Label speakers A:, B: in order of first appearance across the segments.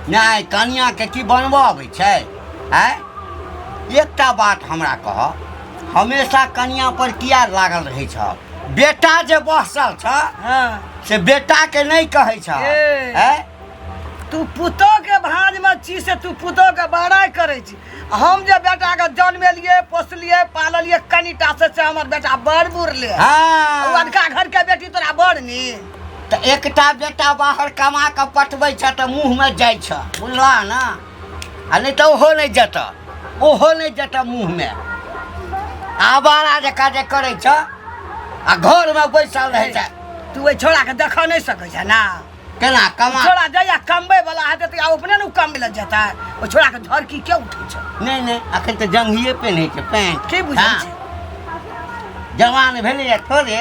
A: नहि कनियाँके की बनबऽ अबै छै आय एकटा बात हमरा कह हमेशा कनिया पर किया लागल रहै छ बेटा जे बसल छ हाँ। से बेटा के नहीं कहे छ ए। आय?
B: तू पुतो के भांज में छी से तू पुतो के बड़ाई करे छी हम जे बेटा के जन्मेलिए पोसलिए पाललिए कनिटा से से हमर बेटा बड़ बुढ़ले हाँ। अनका
A: घर के बेटी
B: तोरा बड़ नी तऽ एकटा
A: बेटा बाहर कमा कऽ पठबै छह तऽ मुँहमे जाइ छह बुझला ने आ नहि तऽ ओहो नहि जेतह ओहो नहि जेतह मुँहमे आवारा जकाँ जे करै छह आ घरमे बैसल रहै छै तू ओहि छोड़ाके
B: देखऽ नहि सकै छह ने केना कमा
A: छोड़ा जहिया कमबै
B: वाला हेतै तऽ अपने ने कमबै लए जेतै ओ छोड़ाके झरकी के उठै छै नहि नहि अखन तऽ
A: जंघिए पेन्है छै पैंट की बुझै हँ। छै जवान भेलैए थोड़े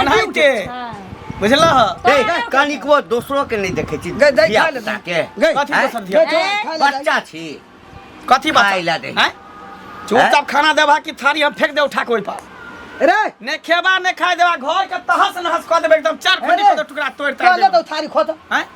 C: ओनाहि के बुझला ह ए
A: कनिकबो दोसरो के नहीं देखे छी गई, गई, धिया खा ले, पुता के
B: गई। कथी हैं? दोसर
C: धिया ए, बच्चा छी
A: कथी बात
C: खाइला दे। हैं चुपचाप खाना देबा कि थारी हम फेंक दे उठा के ओइ पर रे ने
B: खेबा ने
C: खाए देबा घर के तहस नहस कऽ देबे एकदम चार फंडी अरे। कऽ दे टुकड़ा तोड़ ताड़ कहले देबे। तो थारी खोद
B: हैं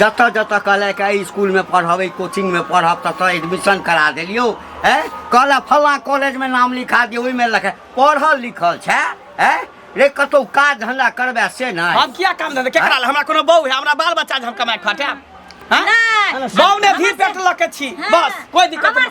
A: जतऽ जतऽ कहलक एहि इसकुलमे पढ़ब एहि कोचिंगमे पढ़ब ततऽ एडमिशन करा देलियौ ए कहलक फल्लाँ कॉलेजमे नाम लिखा दियौ ओहिमे लखा पढ़ल लिखल छै ए रे कतौ काज धंधा करबै से नहि हम किया काम धंधा केकरा
C: लए हमरा कोनो बहू है हमरा बाल बच्चा जे हम कमाए खटे हैं? नहीं
D: बहू ने भी पेट
C: लके छी बस कोई दिक्कत नहीं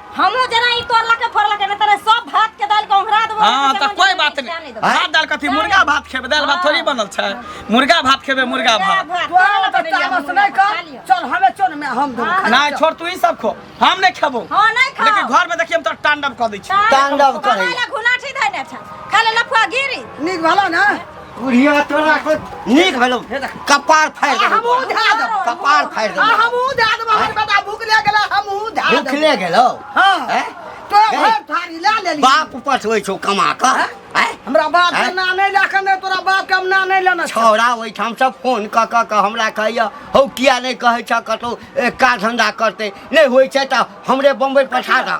A: हमहूँ
D: जेना ई तोड़लकै फोड़लकै नहि तोरा सब भात के दालि के ओंघरा देबो हाँ तो कोई बात
C: नहीं भात दाल कथी मुर्गा भात खेबे दाल भात थोड़ी बनल छै मुर्गा भात खेबे मुर्गा भात तोरा तऽ तामस
B: नहि कर चल हमे चल मे हम दो नहीं छोड़ तू ही सब खो
C: हम नहीं खेबो हां नहीं खा लेकिन घर
D: में देखिए हम तो
C: तांडव कर दै छी तांडव करै
A: घुनाठी धैने
D: छै खाली लफुआ गिरी नीक भला ने
B: बुढ़िया तोरा
A: को नीक भेलो कपार फाड़ दे हमहू धा देब
B: कपार फाड़ दे
A: हमहू धा देब हमर
B: बेटा भूखले गेला हमहू धा देब भूखले गेलो
A: हां
B: तो घर थारी ला लेली बाप पठबै छौ
A: कमा क हमरा बाप के ना
B: नै लाखन नै तोरा बाप के हम ना नै लेना छौरा ओइ ठाम से
A: फोन क क के हमरा कहैया हौ किया नै कहै छ कतो का धंधा करते नै होय छै त हमरे बम्बई पठा द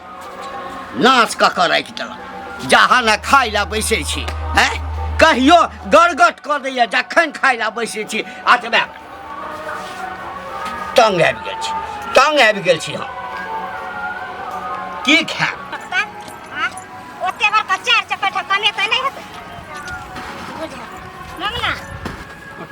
B: नाश
A: कऽ कऽ राखि देलक जहाँ ने खाइ लए बैसै छी हैं कहियो गड़गट कऽ दैया जखन खाइ लए बैसै छी अतबे तंग आबि गेल छी तंग आबि गेल छी हम की खायब
D: ओते बड़का चार चक्कर कमे तऽ नहि हेतै बुझल ममना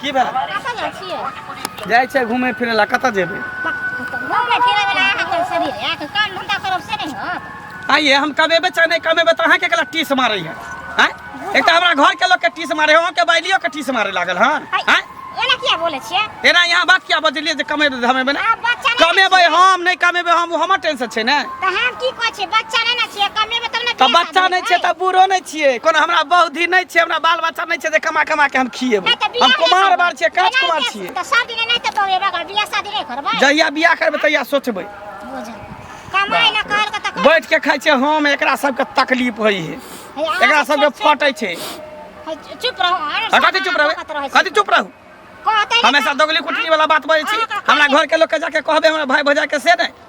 D: की
C: भेल कतऽ जाइ छियै
D: जाइ छै घूमे फिरे
C: ला कतऽ जेबै घूमे
D: फिरे वाला अहाँके शरीर है अहाँके काम धंधा करब से नहीं होत आइए हम कमेबै चाहे
C: नहीं कमेबै तऽ अहाँके केला टीस मारै है आँय? एक तऽ हमरा घर के लोग के टीस मारे है अहाँके बाइलियो के टीस मारे लागल हन आइ, आँय? एना किया बोले
D: छियै एना यहाँ बात किया
C: बजलियै जे कमेबै धमेबै ने आब बच्चा नहीं कमेबै
D: हम नहीं
C: कमेबै हम ओ हमर टेंशन छै ने तऽ हम की कहै छी
D: बच्चा नहि ने छियै कमेबै तब ने तऽ बियाह बच्चा शादी नहि छै हेतै।
C: तऽ
D: बूढ़ो
C: नहि छियै कोनो हमरा बौद्धि नहि छै हमरा बाल बच्चा नहि छै जे कमा कमा के हम खिएबै नहि तऽ बियाह हम नहि कुमार करबै। बार छियै काज एनाहिते कुमार छियै तऽ सब दिन एनाहिते बौए
D: बगल बियाह शादी नहि करबै जहिया बियाह करबै तहिया
C: सोचबै बुझल
D: कमाइ लए कहल के तऽ बैठ के खाइ छियै हम
C: एकरा सबके तकलीफ होइ है एकरा सबके फटै छै चुप
D: रहू अरे आ, कथी चुप रहबै रहू
C: कथी चुप रहू कहतै हमेशा
D: दोगली कुटकी
C: वाला बात बजै छी हमरा घर के लोग के जाके कहबे हमरा भाई भौजाई के से नहि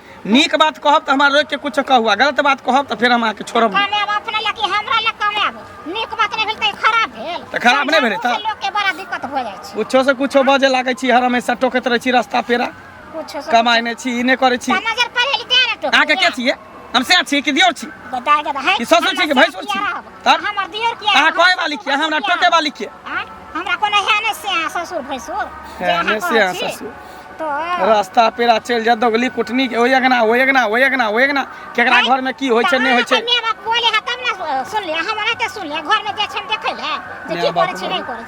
C: नीक बात कहब तऽ हमरा रोकि कऽ किछो कहू आ गलत बात कहब तऽ फेर हम अहाँके छोड़ब नहि। कमाएब अपना लए कि
D: हमरा लए कमाएब नीक बात नहि भेल तऽ ई खराब भेल तऽ खराब नहि भेलै तऽ?
C: लोकके बड़ा दिक्कत भऽ
D: जाइ छै कुछो से कुछो बजे लागै
C: छी हर हमेशा टोकैत रहै छी रास्ता पेरा कुछो से कमाइ
D: नहि छी ई नहि करै
C: छी नजर पड़े लि तेरे टोक
D: अहाँके के छियै हम
C: से छी कि दियोर छी बताए दे भाई ई ससुर
D: छी कि भैंसुर
C: छी? तब? हमर दियर किया अहाँ
D: कहे वाली किया हमरा
C: टोके वाली किया हमरा कोनो
D: है नहि से ससुर भैंसुर जे अहाँ एने से कहै अहाँ
C: छी। ससुर
D: रास्ता पेरा
C: चलि जा दोगली कुटनी के ओए अगना ओए अगना ओए अगना ओए अगना केकरा घर में की होय छै नै होय
D: छै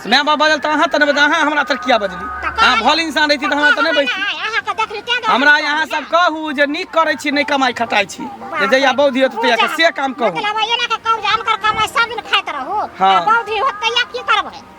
D: माय बाप बजल तऽ अहाँ तऽ नहि
C: अहाँ हमरा तर किया बजली अहाँ भल इंसान रहिती तऽ हमरा तऽ नहि बैठती
D: हमरा यहाँ सब कहू
C: जे नीक करै छी नहि कमाइ खटाइ छी जे जहिया बौद्ध होत तहिया के से काम कहू मतलब एना के कम जान
D: कर कमाइ सब दिन खाइत रहू बौद्ध होत
C: तहिया की
D: करबै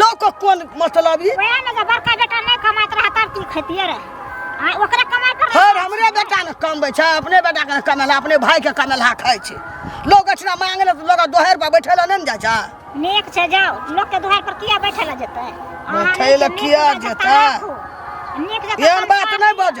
B: लोक कोन मतलब ई वएह ने जे बड़का बेटा
D: नहि कमाइत रहा तब तू खेतिए रहे आ ओकरा कमाई कर हर हमरे बेटा ने
B: कमबै छै अपने बेटा के कमेला अपने भाई के कमेला खाइ छै लोग अछना मांगे ले लोग दोहर पर बैठे ला नहीं ने जा नेक छै जाओ
D: लोग के दुआर पर किया बैठे ला जेतै अहाँ बैठै नीक ला नीक
B: किया जकाँ जेतै? तमाकू, नीक
D: जकाँ एहन बात तमाकू। नहीं बज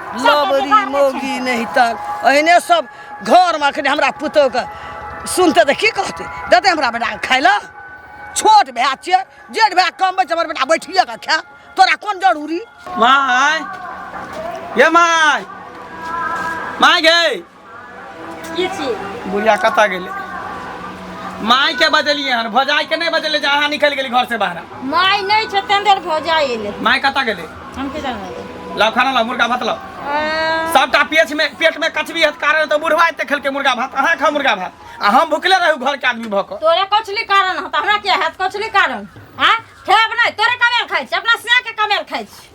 D: लबरी
B: मोगी नहीं तन अहिने सब घर में अखने हमरा पुतोह के सुनते तऽ की कहते देते हमरा बेटा के खाय लए छोट भए छियै जेठ भए कम बच्चा हमर बेटा बैठिए के खाय तोरा कोन जरूरी माय
C: ये माय माय गे की
E: छी बुढ़िया कतऽ गेलै
C: माय के बजलिए हन भौजाई के नहीं बजले जे अहाँ निकल गेली घर से बाहर माय नहीं छै तें
E: देर भौजा एले माय कतऽ गेले हम की
C: जानब
E: लाओ खाना लाओ मुर्गा
C: भात लाओ सबटा पेट में पेट में कचबी हत कारण तो बुढ़वा एते खेलके मुर्गा भात अहाँ खा मुर्गा भात आ हम भुखले रहू घर के आदमी भक तोरे कछली कारण
E: हत हमरा के हत कछली कारण हां खेब नहीं तोरे कमेल खाइ छी अपना सिया के कमेल खाइ छी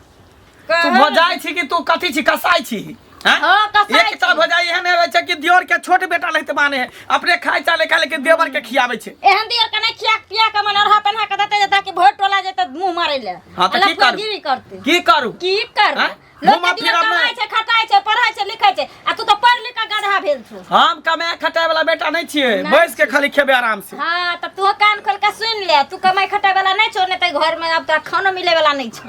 E: तू
C: भजाइ छी कि तू कथी छी कसाइ छी हैं? हाँ, कसाइ एक छी। तरह
E: भजाइ एहन
C: रहै छै कि दियोर के छोट बेटा लगते माने है अपने खाइ चाले खा लेकिन देवर के खियाबै छै एहन दियर के नहीं खिया
E: पिया के मन अरहा पहना के देते जता कि भोट टोला जेते मुंह मारे ले हाँ, तो की करू? गिरी
C: करते की करू
E: की
C: कर हाँ?
E: लोग घुमा के दियर
C: फिरा में। कमाई
E: छै
C: खटाई
E: छै
C: पढ़ाई
E: छै लिखै छै आ तू तो पढ़ लिख के गधा भेल छु हम कमाए खटाए
C: वाला बेटा नहीं छिए नहीं बैस के खाली खेबे
E: आराम
C: से हाँ तो तू कान
E: खोल के सुन ले तू कमाई खटाई वाला नहीं छो नहीं तो घर में अब तोरा खानो मिले वाला नहीं छो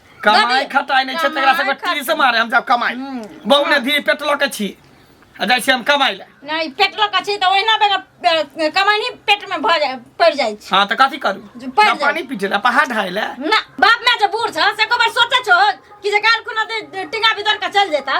E: कमाई खटाई
C: नहीं छै तेरा सब टीवी से मारे हम जाब कमाई हम्म। बहु ने धी पेट लके छी आ जाय छी हम कमाई ले नहीं पेट लके छी
E: त ओहिना बेगर कमाई नहीं पेट में भर जाय पड़ जाय छी हां त कथि करू ना
C: पानी पी ले
E: पहाड़ ढाई
C: ले ना बाप में जे
E: बूढ़ छ से को बार सोचे छो कि जे काल खुना टिंगा भीतर का चल जेता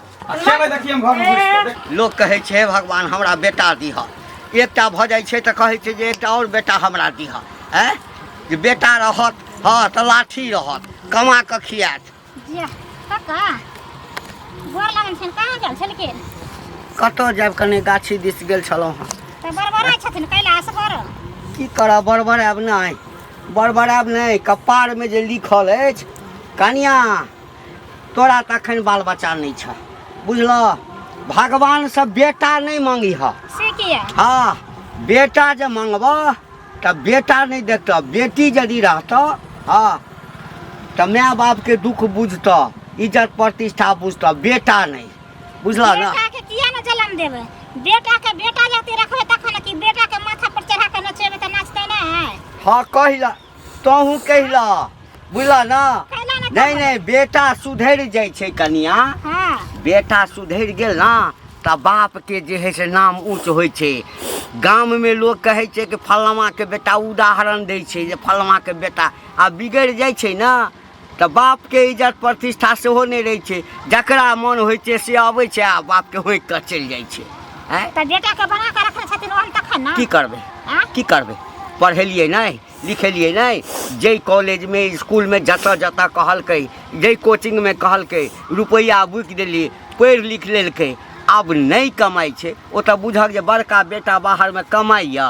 C: लोक कहै छै भगवान
A: हमरा बेटा दिह एकटा भऽ जाइ छै तऽ कहै छै जे एकटा आओर बेटा हमरा दिह आँय जे बेटा रहत हँ तऽ लाठी रहत कमा कऽ खियात
D: कतऽ जायब
A: कने गाछी दिस गेल छलहुँ हँ की करब
D: बड़बड़ायब
A: नहि बड़बड़ायब नहि कपारमे जे लिखल अछि कनिया तोरा तऽ अखन बाल बच्चा नहि छ बुझल भगवान से बेटा नहि मांगी ह से किया हाँ बेटा जे मांगब तऽ बेटा नहि देत बेटी यदि रहत हाँ तऽ माय बाप के दुख बुझत इज्जत प्रतिष्ठा बुझत बेटा नहीं बुझल ना बेटा के किया ने जन्म
D: देबे बेटा के बेटा जाते रखबे तखन कि बेटा के माथा पर चढ़ा के नचेबे तऽ नाचते ना है हाँ कहिला
A: तहूँ कहिला बुझला ना कहना ना नहीं नहीं बेटा सुधर जाए छै कनिया हाँ
D: बेटा सुधर
A: गेल ना तऽ बाप के जे है से नाम ऊँच होइ छै गाम में लोग कहै छै कि फलमा के बेटा उदाहरण दै छै जे फलमा के बेटा आ बिगड़ जाइ छै ना तऽ बापके इज्जत प्रतिष्ठा सेहो नहि रहै छै जकरा मोन होइ छै से अबै छै आ बापके होकि कऽ चलि जाइ छै आँय तऽ बेटाके
D: बना कऽ रखने छथिन ओहन तखन ने की करबै आँय? की
A: करबै पढ़ेलियै नहि लिखेलियै नहि जाहि कॉलेजमे इसकुलमे जतऽ जतऽ कहलकै जाहि कोचिंगमे कहलकै रुपैआ बुकि देलियै पढ़ि लिख लेलकै आब नहि कमाइ छै ओ तऽ बुझक जे बड़का बेटा बाहरमे कमाइए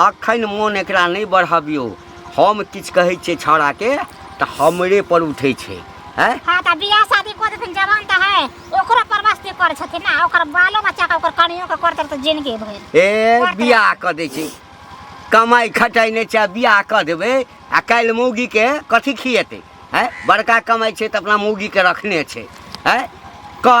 A: अखन मोन एकरा नहि बढ़बियौ हम किछु कहै छियै छौड़ाके तऽ हमरे पर उठै छै हैं हाँ तऽ बियाह शादी
D: कऽ देथिन जवान तऽ है ओकरो परवस्ती करै छथिन ना ओकर बालो बच्चा के ओकर कनियो के करतै तऽ जिनगी भरि ए बियाह
A: कऽ दै छै कमाइ खटाइ नहि छै बियाह कऽ देबै आ काल्हि मौगीके कथी खिएतै हैं बड़का कमाइ छै तऽ अपना मौगीके रखने छै हैं कह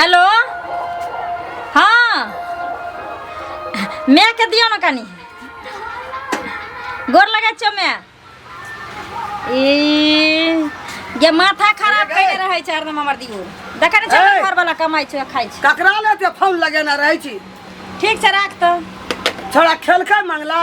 A: हेलो
E: हाँ मैके दियो ना कनी गोर लगे छो मैं ई ये माथा खराब कइले रहै छै हरदम हमर दियो देखै नै ए! घर वाला कमाइ छै खाइ छै ककरा ले ते फोन
B: लगेना रहै छी ठीक छै राख
E: तऽ छोड़ा
B: खेलकै मंगला